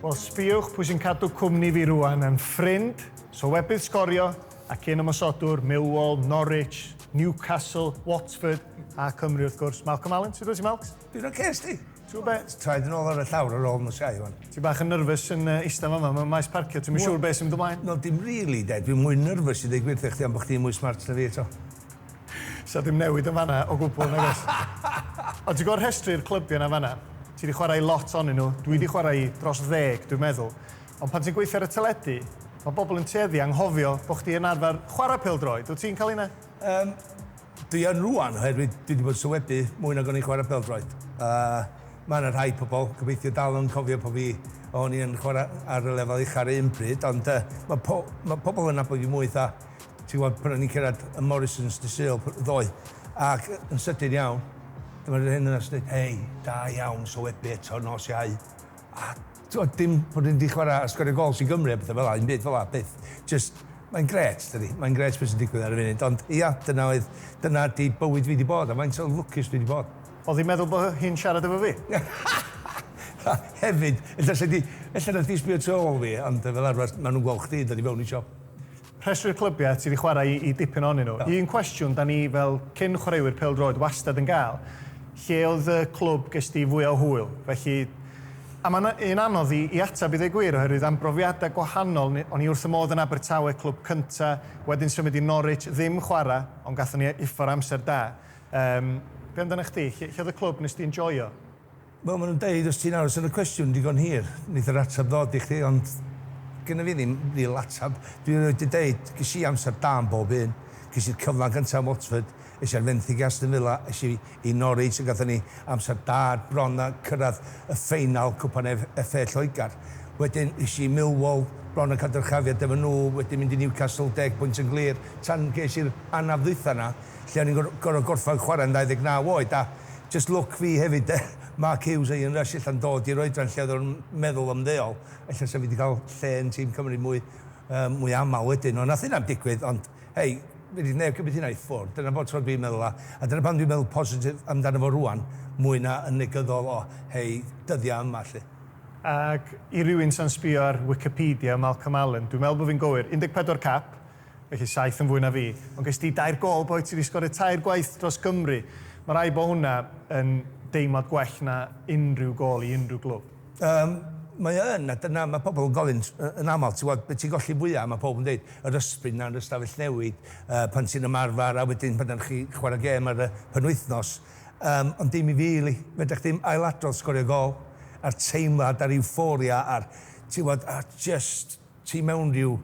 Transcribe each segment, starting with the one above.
Wel, sbiwch pwy sy'n cadw cwmni fi rwan yn ffrind, sylwebydd sgorio ac un ymosodwr, Millwall, Norwich, Newcastle, Watford a Cymru wrth gwrs. Malcolm Allen, sut wyt ti Malcs? Dwi'n oce, okay, sti? Ti'n be? Traed yn ôl ar y llawr ar ôl nos iau hwn. Ti bach yn nerfus yn uh, eista fama, mae'n maes parcio, ti'n siŵr beth sy'n mynd ymlaen? No, dim really, de. Dwi'n mwy nerfus i ddweud gwir thych chdi am bod chdi'n mwy smart na fi eto. Sa dim newid yn fanna o gwbwl nag oes? Ond ti'n gweld rhestru'r clybiau 'na fanna? Ti 'di chwarae i lot onyn nhw, dwi 'di chwarae i dros ddeg dwi'n meddwl, ond pan ti'n gweithio ar y teledu, ma' bobl yn tueddu anghofio bo' chdi yn arfer chwarae pêl-droed, wyt ti'n cael hynna? Yym, dwi yn rŵan oherwydd dwi 'di bod yn sylwebu mwy nag o'n i'n chwarae pêl-droed, a ma' 'na rhai pobl, gobeithio, dal yn cofio pan fi o'n i yn chwarae ar y lefel ucha' 'r un pryd, ond yy ma' po- ma' pobl yn nabod fi mwy 'tha Ti'n gwbod, pan o'n ni'n cyrraedd y Morrisons dydd Sul ddoe, ac yn sydyn iawn, dyma rhywun yna sy'n dweud, Hei, da iawn, sowebu eto nos Iau. A, ti'n gwbod, dim bod ni 'di chwarae a sgorio gols i Gymru a pethau fel'a, ddim byd fel'a, byth. Jyst, mae'n grêt, dydi? Mae'n grêt be' sy'n digwydd ar y funud. Ond, ia, dyna oedd, dyna ydi bywyd fi 'di bod, a faint o lwcus dwi 'di bod. O'dd hi'n meddwl bo' hi'n siarad efo fi? Hefyd, ella 'sa 'di, ella 'na chdi sbio tu ôl fi, ond fel arfer, ma' nhw'n gweld chdi yn dod i fewn i siop. Rhestru'r clybiau, ti 'di chwarae i dipyn ohonyn nhw. Un cwestiwn 'da ni fel cyn chwaraewyr pêl-droed wastad yn gael, lle oedd y clwb ges di fwya o hwyl? Felly, a mae'n un anodd i i ateb i ddweud gwir oherwydd am brofiadau gwahanol, ni- o'n i wrth fy modd yn Abertawe, clwb cynta, wedyn symud i Norwich, ddim chwarae, ond gathon ni uffar o amser da. Yym, be amdanach chdi, lle lle oedd y clwb nes di enjoio? Wel ma' nhw'n deud os ti'n aros ar y cwestiwn digon hir, neith yr ateb ddod i chdi ond gynna fi ddim ril ateb. Dwi erioed di deud, ges i amser da yn bob un, ges i'r cyflan gynta yn Watford, es i ar fenthyg i Aston Villa, es i i Norwich a gathon ni amser da er bron a cyrradd y ffeinal cwpan ef FA Lloegr. Wedyn es i i Millwall, bron a ca'l dyrchafiad efo nhw, wedyn mynd i Newcastle deg pwynt yn glir tan ges i'r anaf ddwytha 'na lle o'n i'n gor- gor'o' gorffan chwarae'n 29 oed a Jyst lwc fi hefyd de, Mark Hughes a Ian Rush ella'n dod i'r oedran lle oedden nhw'n meddwl ymddeol, ella 'sa fi 'di cael lle yn tîm Cymru mwy yym mwy aml wedyn, ond nath hynna 'im digwydd, ond hei, fedrith neb cymryd hynna i ffwrdd, dyna bob tro dwi'n meddwl a a dyna pam dwi'n meddwl positif amdano fo rŵan mwy na yn negyddol o hei, dyddia' yma 'lly. Ac i rywun sa'n sbio ar Wicipedia, Malcolm Allen, dwi'n meddwl bo' fi'n gywir, 14 cap, Felly saith yn fwy na fi. Ond ges di dair gôl boi, ti 'di sgorio tair gwaith dros Gymru. Mae rhaid bod hwnna yn deimlad gwell na unrhyw gôl i unrhyw glwb. Yym, mae o yn, a dyna, mae pobl yn gofyn yn aml, ti'n gwybod, be ti'n golli fwya', mae pawb yn deud, yr ysbryd 'na yn yr ystafell newid, yy, pan ti'n ymarfer, a wedyn pan dach chi chwarae gêm ar y penwythnos. Yym, ond dim i fi, Lee. Fedrech chdi'm ailadrodd sgorio gôl, a'r teimlad, a'r euphoria, a'r, ti'n gwybod, a'r jyst, ti mewn rhyw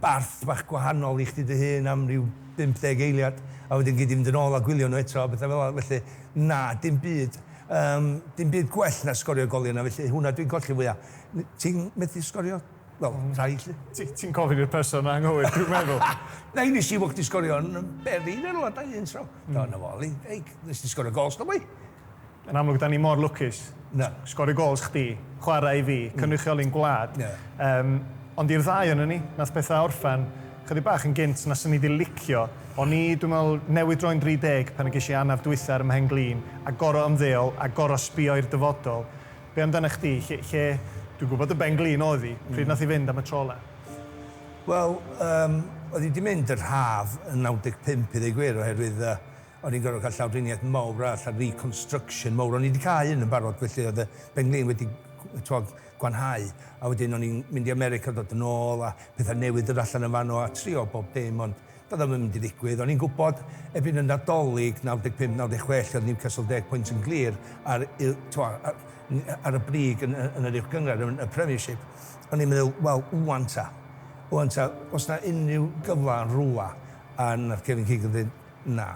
barth bach gwahanol i chdi dy hun am ryw 50 eiliad, a wedyn gei di fynd yn ôl a gwylio nhw eto a pethau fel 'na, felly na, dim byd, yym, dim byd gwell na sgorio goliau yna, felly hwnna dwi'n colli fwya. N- ti'n medru sgorio? Wel, rhai, 'lly. Ti, ti'n gofyn i'r person anghywir, dwi'n meddwl. Na, nes i weld chdi sgorio yn Berlin yn rwla, do, un tro. Do, 'na fo, Lee, hey, nes di sgorio gôl, sgwboi? Yn amlwg dan ni mor lwcus. Na. Sgorio gols chdi, chwarae i fi, cynrychioli'n gwlad. Ie. Yym, ond i'r ddau onon ni, nath petha orffen chydig bach yn gynt na swn i 'di licio. O'n i, dwi'n me'wl, newydd droi'n 30 pan y gesh i anaf dwytha ar 'y mhen-glin, a gor'o' ymddeol, a gor'o' sbio i'r dyfodol. Be' amdanach chdi? Lle, lle, dwi'n gwbod dy ben-glin o'dd 'i, pryd nath 'i fynd am y tro ola? Wel, yym, oedd 'i 'di mynd yn rhaf yn 95 i ddeu gwir, oherwydd yy O'n i'n gorfod cael llawdriniaeth mawr arall a reconstruction mawr. O'n i 'di cau un yn barod felly oedd y pen-glin wedi t'wod gwanhau a wedyn o'n i'n mynd i America dod yn ôl a pethau newydd dod allan yn fanno a trio bob dim ond doedd o'm yn mynd i ddigwydd. O'n i'n gwybod erbyn y Nadolig 95, 96 lle oedd Newcastle deg pwynt yn glir ar y t'wod ar y brig yn yn yr uwchgynghrair yn y Premiership o'n i'n meddwl wel ŵan ta ŵan ta os 'na unrhyw gyfle yn rwla a nath Kevin Keegan ddeud Na.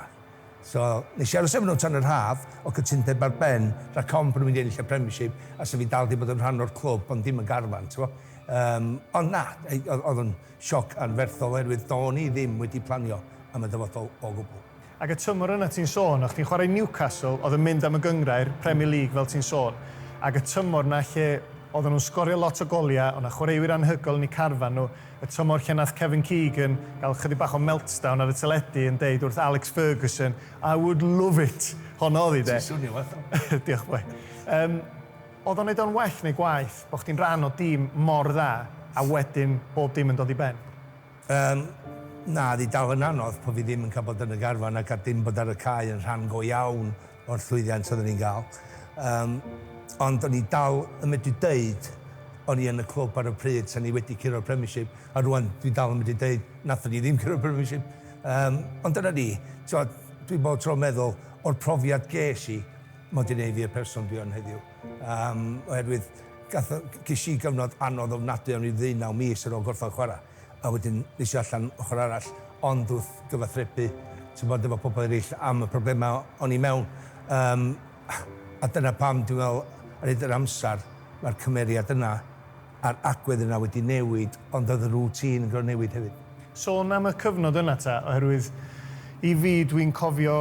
So, nes i aros efo nhw tan yr haf, o' cytundeb ar ben, rhag ofn bo' nhw'n mynd i ennill y Premiership, a 'sa fi dal 'di bod yn rhan o'r clwb, ond dim y garfan, t'mo'. Yym, ond na, yy, o'dd, o'dd o'n sioc anferthol oherwydd do'n i ddim wedi planio am y dyfodol o gwbwl. Ac y tymor yna ti'n sôn, o' chdi'n chwarae i Newcastle, o'dd yn mynd am y gynghrair, Premier League fel ti'n sôn, ac y tymor 'na lle oddan nhw'n sgorio lot o golia, o' 'na chwaraewyr anhygoel yn eu carfan nhw, y tymor lle nath Kevin Keegan gael chydig bach o meltdown ar y teledu yn deud wrth Alex Ferguson I would love it! Honno oedd hi de. Ti'n swnio fatha fo. Diolch boi. Yym, oedd o'n neud o'n well neu gwaeth bo' chdi'n rhan o dîm mor dda a wedyn bob dim yn dod i ben? Yym, na, oedd hi dal yn anodd, bo' fi ddim yn cael bod yn y garfan ac a dim bod ar y cae yn rhan go iawn o'r llwyddiant oedden ni'n gael. Yym, ond o'n i dal yn medru deud o'n i yn y clwb ar y pryd, sa'n i wedi curo'r Premiership, a rŵan dwi dal yn medru deud nathon ni ddim curo'r Premiership. Yym, ond dyna ni. T'mod, dwi bob tro'n meddwl o'r profiad ges i, ma' o 'di neud fi y person dwi yn heddiw. Yym, oherwydd gath o... Ges i gyfnod anodd ofnadwy, o'n i'n ddeunaw mis ar ôl gorffan chwara'. a wedyn nes i allan ochor arall ond wrth gyfathrebu t'mod efo pobol ereill am y problema o'n i mewn yym a dyna pam dwi'n me'wl ar hyd yr amsar ma'r cymeriad yna a'r agwedd yna wedi newid ond o'dd y routine yn gor'o' newid hefyd. Sôn am y cyfnod yna ta oherwydd i fi dwi'n cofio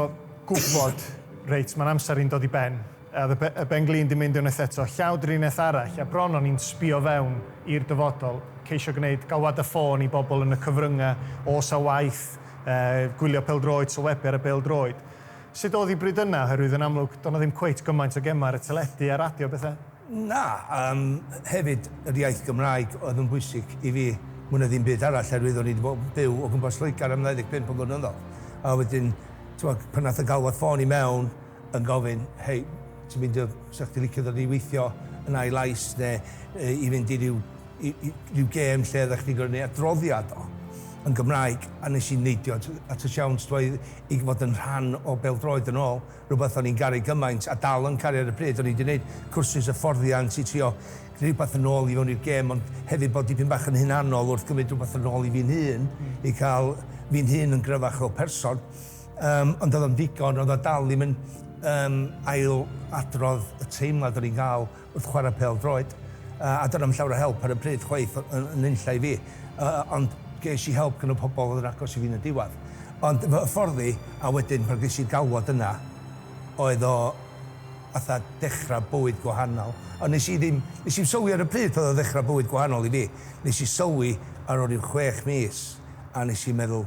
gwbod reit ma'n amsar i'n dod i ben A the y ben-glin di mynd unwaith eto, llaw drinell arall, a bron o'n i'n sbio fewn i'r dyfodol, ceisio gwneud galwad y ffôn i bobl yn y cyfryngau, oes a waith, eh, gwylio pêl-droed, sylwebu ar y bêl-droed. Sut oedd hi bryd yna, oherwydd yn amlwg, doedd 'na ddim cweit gymaint o gemau ar y teledu a radio a bethau? Na, yym, hefyd, yr iaith Gymraeg oedd yn bwysig i fi mwy na ddim byd arall, oherwydd o'n i 'di bod yn byw o gwmpas Lloegr am 25 o flynyddoedd, a wedyn, t'mod, pan aeth y galwad ffôn i mewn, yn gofyn, hei, ti'n meindio 'sa chdi licio dod i weithio yn I-Lais neu i fynd i ryw ryw gêm lle oeddach chdi'n gorfod 'neud adroddiad o yn Gymraeg a 'nes i neidio at y siawns ddoe i fod yn rhan o bêl-droed yn ôl, rwbath o'n i'n garu gymaint a dal yn caru ar y pryd, o'n i 'di 'neud cwrsys hyfforddiant i trio gneud rwbath yn ôl i fewn i'r gêm ond hefyd bod dipyn bach yn hunanol wrth gymryd rwbath yn ôl i fi'n hun i ca'l fi'n hun yn gryfach fel person. Yym, ond oedd o'n ddigon, roedd o dal ddim yn yym ail adrodd y teimlad o'n i'n gael wrth chwarae pêl droed. Yy, a doedd o'm llawer o help ar y pryd chwaith yn yn nunlla i fi. Yy, ond ges i help gan y pobl oedd yn agos i fi yn y diwedd. Ond fy ffordd i, a wedyn pan ges i'r galwad yna, oedd o fatha dechrau bywyd gwahanol. Ond nes i ddim, nes i'm sylwi ar y pryd pan oedd o'n ddechrau bywyd gwahanol i fi. Nes i sylwi ar ol ryw chwech mis, a nes i meddwl,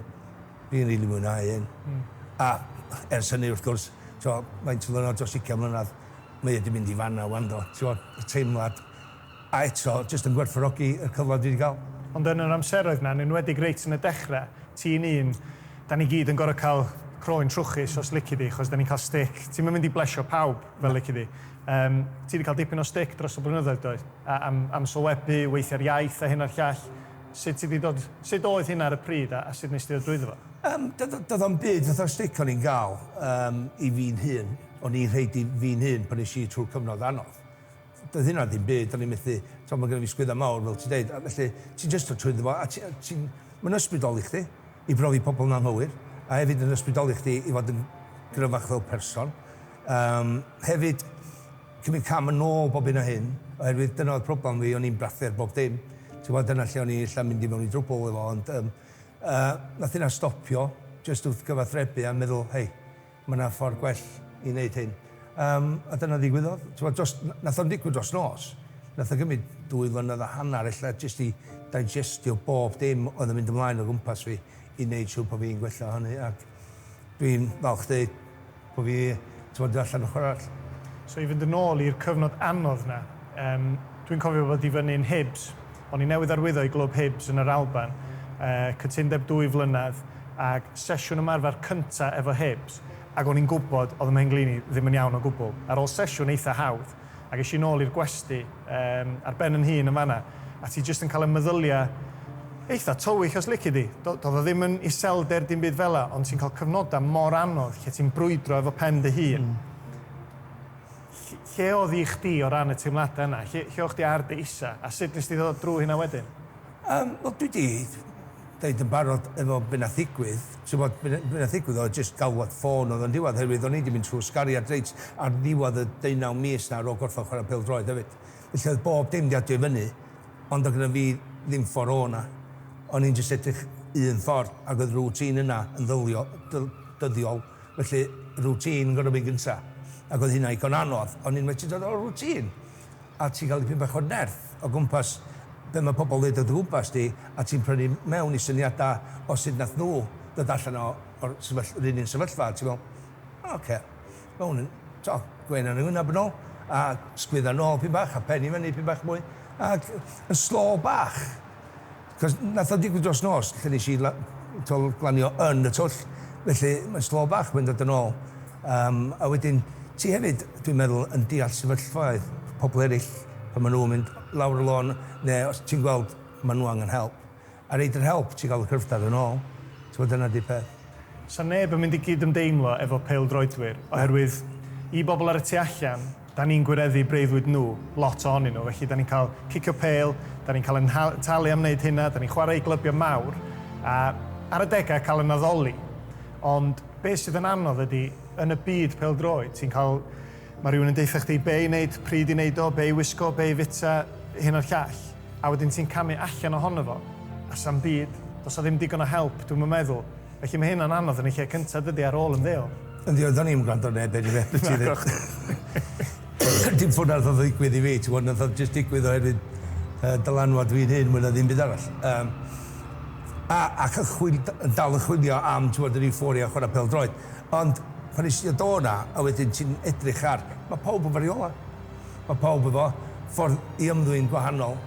Dwi'n rili mwynhau hyn. A ers hynny wrth gwrs, t'mo', faint o ddiwrnod, dros ugian mlynadd, mae e 'di mynd i fan'na 'wan do? T'mo', y teimlad. A eto, jyst yn gwerthfawrogi y cyfle dwi 'di ga'l. Ond yn yr amseroedd 'na, yn enwedig reit yn y dechre, ti'n un, 'dan ni gyd yn gor'o' ca'l croen trwchus os lici di, achos 'dan ni'n ca'l stick. Ti'm yn mynd i blesio pawb, fel lici di. Yym, ti 'di ca'l dipyn o stick dros y blynyddoedd, do? A- am am sylwebu, weithio'r iaith a hyn a'r llall. Sut ti 'di dod... sut oedd hynna ar y pryd a sut nes ti ddod drwyddo fo? Yym, doedd o'm byd fatha'r stick o'n i'n gael yym i fi'n hun, o'n i'n rhoid i fi'n hun pan es i trwy'r cyfnod anodd. Doedd hynna ddim byd, o'n i'n methu, t'mod ma' gynna fi sgwydda mawr fel ti'n deud, a felly ti jyst dod trwyddo fo a ti a ti'n... Ma'n ysbrydoli chdi i brofi pobl yn anghywir, a hefyd yn ysbrydoli chdi i fod yn gryfach fel person. Yym, hefyd, cymryd cam yn ôl bob hyn a hyn, oherwydd dyna oedd problem fi, o'n i'n brathu ar bob dim, ti'n gwbod, dyna lle o'n i ella mynd i mewn i drwbwl efo, ond yym yy nath hynna stopio, jyst wrth gyfathrebu a meddwl, hei, ma' 'na ffordd gwell i neud hyn. Yym a dyna ddigwyddodd, ti'n gwbod, dros, nath o'm digwydd dros nos, nath o gymryd dwy flynedd a hanner ella jyst i digestio bob dim oedd yn mynd ymlaen o gwmpas fi i neud siŵr bo' fi'n gwella o hynny, ac. Dwi'n falch deud bo fi t'mod dod allan ochor arall. So i fynd yn ôl i'r cyfnod anodd 'na, yym dwi'n cofio bod i fyny yn Hibs, o'n i newydd arwyddo i glwb Hibs yn yr Alban, yy cytundeb dwy flynedd ag sesiwn ymarfer cynta efo Hibs, ag o'n i'n gwbod o'dd 'y mhenglin i ddim yn iawn o gwbwl. Ar ôl sesiwn eitha hawdd, ac es i nôl i'r gwesty yym ar ben yn hun yn fan'na, a ti jyst yn cael y meddylia eitha tywyll os lici di. Do- doedd o ddim yn iselder dim byd fela, ond ti'n cael cyfnodau mor anodd lle ti'n brwydro efo pen dy hun. Ll- lle oedd i chdi o ran y teimladau yna? Lle, lle o'ch chdi ar dy isa', a sut nes di ddod drwy hynna wedyn? Yym, wel dwi 'di deud yn barod efo be' nath ddigwydd, ti wbod, be' be' nath ddigwydd oedd jyst galwad ffôn oedd yn ddiwadd oherwydd o'n i 'di mynd trw'r sgariad reit ar ddiwadd y deunaw mis 'na ar ôl gorffod chwarae pêl-droed hefyd. Felly oedd bob dim 'di adio i fyny ond oedd gynna fi ddim ffor o 'na. O'n i'n jyst edrych un ffordd ac oedd routine yna yn ddylio- dyl- dyddiol felly routine yn gor'o' mynd gynta' ac oedd hynna igon anodd. O'n i'n methu dod o'r routine. a ti'n cael dipyn bach o nerth o gwmpas be mae pobl yn ddeud o dy gwmpas di, a ti'n prynu mewn i syniadau o sut wnaeth nhw ddod allan o, o'r sefyll- yr un un sefyllfa, a ti'n meddwl, O ocê, mae hwn yn, tibod, gwên ar 'y ngwyneb yn ôl, a sgwydda nôl dipyn bach, a pen i fyny dipyn bach mwy, ac yn slow bach. Cos nath o digwydd dros nos lle nes i la- t'wel glanio yn y twll felly mae'n slow bach mae'n dod yn ôl yym a wedyn ti hefyd dwi'n meddwl yn deall sefyllfaoedd pobl eryll pan ma' nhw'n mynd lawr y lôn ne' os ti'n gweld ma' nhw angen help a reid yr help ti'n ga'l y cryfder yn ôl t'mod dyna di'r peth. Sa neb yn mynd i gyd-ymdeimlo efo pêl-droedwyr oherwydd i bobl ar y tu allan Da ni'n gwireddu breuddwyd nhw, lot ohonyn nhw, felly da ni'n cael cicio pêl, da ni'n cael ein talu am wneud hynna, da ni'n chwarae i glybiau mawr, a ar adegau cael ein addoli. Ond be sydd yn anodd ydy, yn y byd pêl-droed, ti'n cael, mae rhywun yn deutha chdi be i wneud, pryd i wneud o, be i wisgo, be i fwyta, hyn a'r llall, a wedyn ti'n camu allan ohono fo, a 'sam byd, does 'na ddim digon o help, dwi'm yn meddwl. Felly mae hyn yn anodd yn y lle cynta dydi ar ôl ymddeol. Yndi ond do'n i'm yn gwrando ar neb eniwe be' ti ddeu- Dim fo' 'na rwbath yn ddigwydd i fi ti wbod nath o jyst digwydd oherwydd yy dylanwad fi'n hŷn mwy na ddim byd arall yym a ac yn chwil- d- yn dal yn chwilio am ti wbod yr euphoria o chwara pêl-droed ond pan nes i ddod o 'na a wedyn ti'n edrych ar ma' pawb yn fariolau. Mae pawb efo ffordd i ymddwyn gwahanol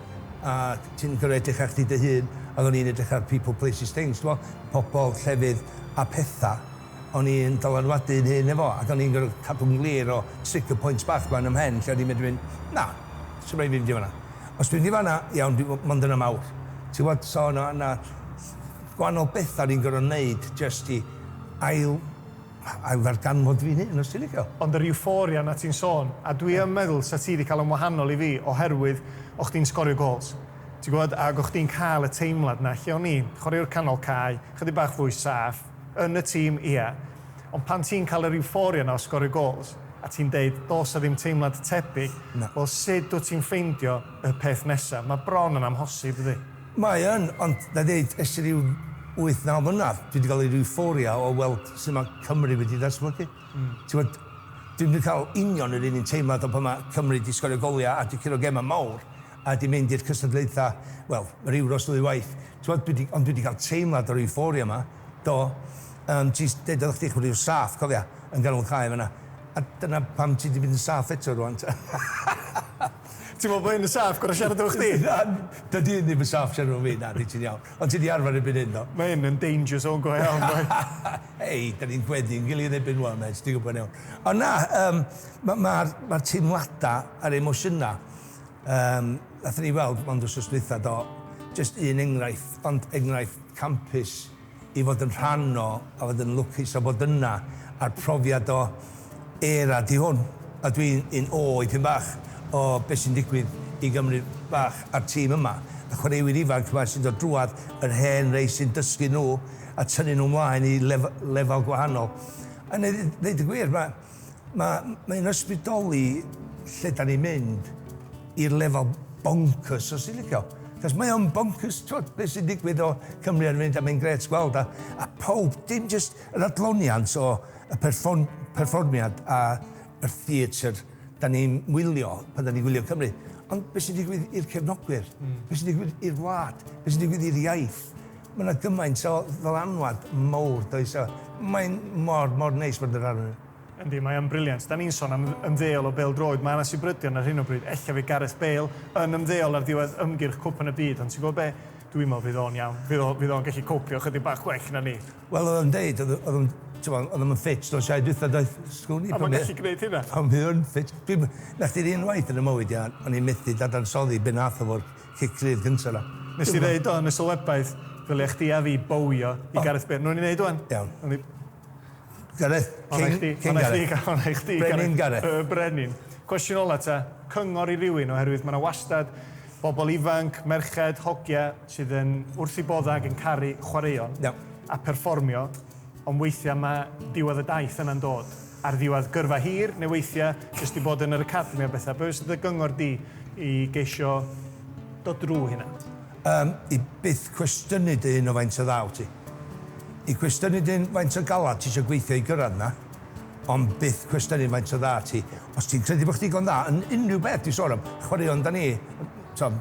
ac ti'n gorfod edrych ar chdi dy hun ac o'n i'n edrych ar people, places, things t'mod? Pobl, llefydd a petha. O'n i'n dylanwadu yn hun efo ac o'n i'n gorfod cadw'n glir o trigger points bach ma yn 'y mhen lle o'n i'n medru mynd na, sdim rhaid i fi fynd i fan'na. Os dwi'n mynd i fan'na, iawn, dwi mond yn amawr. Ti'n gwbod? So o' 'na gwahanol betha o'n i'n gorfod neud jyst i ail Ail ddarganfod fy hun, os ti'n licio. Ond yr euphoria 'na ti'n sôn, a dwi yn meddwl 'sa ti 'di cael o'n wahanol i fi oherwydd o' chdi'n sgorio gôls, ti'n gwbod, ag o' chdi'n cael y teimlad 'na lle o'n i'n, chwaraewr canol cae, chydig bach fwy saff, yn y tîm, ie, ond pan ti'n cael yr euphoria 'na o sgorio gôls, a ti'n deud, does 'na ddim teimlad tebyg, wel sut wyt ti'n ffeindio y peth nesa'? Mae bron yn amhosib, dydi? Mae yn, ond na ddeud ers ryw wyth naw mlynedd, dwi 'di gael yr euphoria o weld sut mae Cymru wedi datblygu. Ti'n gwybod, dwi'm 'di cael union yr un un teimlad o pan mae Cymru 'di sgorio goliau a 'di curo gemau mawr a 'di mynd i'r cystadlaethau, wel, yr Euros ddwy waith. Ti'n gwybod, dwi 'di, ond dwi 'di cael teimlad o'r euphoria 'ma, do. Yym, ti jyst deud oeddach chdi chwarae ryw saff, cofia, yn ganol cae fan'na. A dyna pam ti 'di mynd yn saff eto rŵan, ta. Ti'n meddwl bod hyn yn saff, gorau siarad efo chdi? Na, dydy hyn ddim yn saff siarad efo fi, na, di ti'n iawn. Ond ti di arfer erbyn hyn do? Mae hyn yn danger zone go iawn boi. Hei, dan ni'n gweddu yn gilydd erbyn wan mêt, ti'n gwybod yn iawn. Ond na, yym, ma- ma'r, ma'r teimladau a'r emosiynau, yym, nathon ni weld mond wsos dwytha do, jyst un enghraifft, ond enghraifft campus, i fod yn rhan o a fod yn lwcus o fod yna a'r profiad o era di hwn a dwi yn ôl i pyn bach o be sy'n digwydd i Gymru fach a'r tîm yma y chwaraewyr ifanc yma sy'n dod drwadd yr hen rei sy'n dysgu nhw a tynnu nhw mlaen i lef- lefel gwahanol a neud ddeud y gwir ma' Ma, ma un ysbrydoli lle da ni'n mynd i'r lefel bonkers os ti'n licio. Cos mae o'n bonkers twod be sy'n digwydd o Cymru ar y funud a mae'n grêt gweld a a pawb dim jyst yr adloniant o y perfon- perfformiad a yr theatr da ni'n wylio pan da ni'n gwylio Cymru ond be sy'n digwydd i'r cefnogwyr? Be sy'n digwydd i'r wlad? Be sy'n digwydd i'r iaith? Mae 'na gymaint o ddylanwad mowr, does, a mae'n mor, mor neis bod yn rhan ohonyn nhw. Yndi, mae o'n briliant. Dan ni'n son am ymddeol o bêl-droed. Mae 'na sibrydion ar hyn o bryd, ella fydd Gareth Bale yn ymddeol ar ddiwedd ymgyrch Cwpan y Byd, ond ti'n gwybod be? Dwi'n meddwl fydd o'n iawn. Fydd o, fydd o'n gallu copio ychydig bach gwell na ni. Wel, oedd o'n deud, oedd, oedd o'n, t'mod, oedd o'm yn ffit nos Iau dwytha, doedd? Sgwn i A pan mae'n mae, gallu gwneud hynna. pan mae o'n ffit. Dwi'n, 'na chdi'r un waith yn 'y mywyd i, a o'n i'n methu dadansoddi be' nath o 'fo Cic rhydd gynta yna. Nes di ddeud do yn y sylwebaeth, ddylia chdi a fi bowio i Gareth Bale. Nw'n i neud ŵan. Iawn. Nawn ni... Gareth, King, King Gareth. Ona i chdi, Brenin Gareth. Y Brenin. Cwestiwn ola ta, cyngor i rywun, oherwydd mae yna wastad bobl ifanc, merched, hogia, sydd yn wrth i bodda ac yn caru chwaraeon a perfformio. Ond weithiau mae diwedd y daith yna'n dod ar ddiwedd gyrfa hir, neu weithiau jyst i bod yn yr academi a bethau. Be fysa dy gyngor di i geisio dod drwy hynna? Yym, i byth cwestiynu dy hun o faint o dda wyt ti. I gwestiynu dy hun faint o galad ti eisiau gweithio i gyrraedd yna, ond byth cwestiynu faint o dda ti. Os ti'n credu bod chdi digon dda yn unrhyw beth ti'n sôn am, chwaraeon 'da ni, tibod,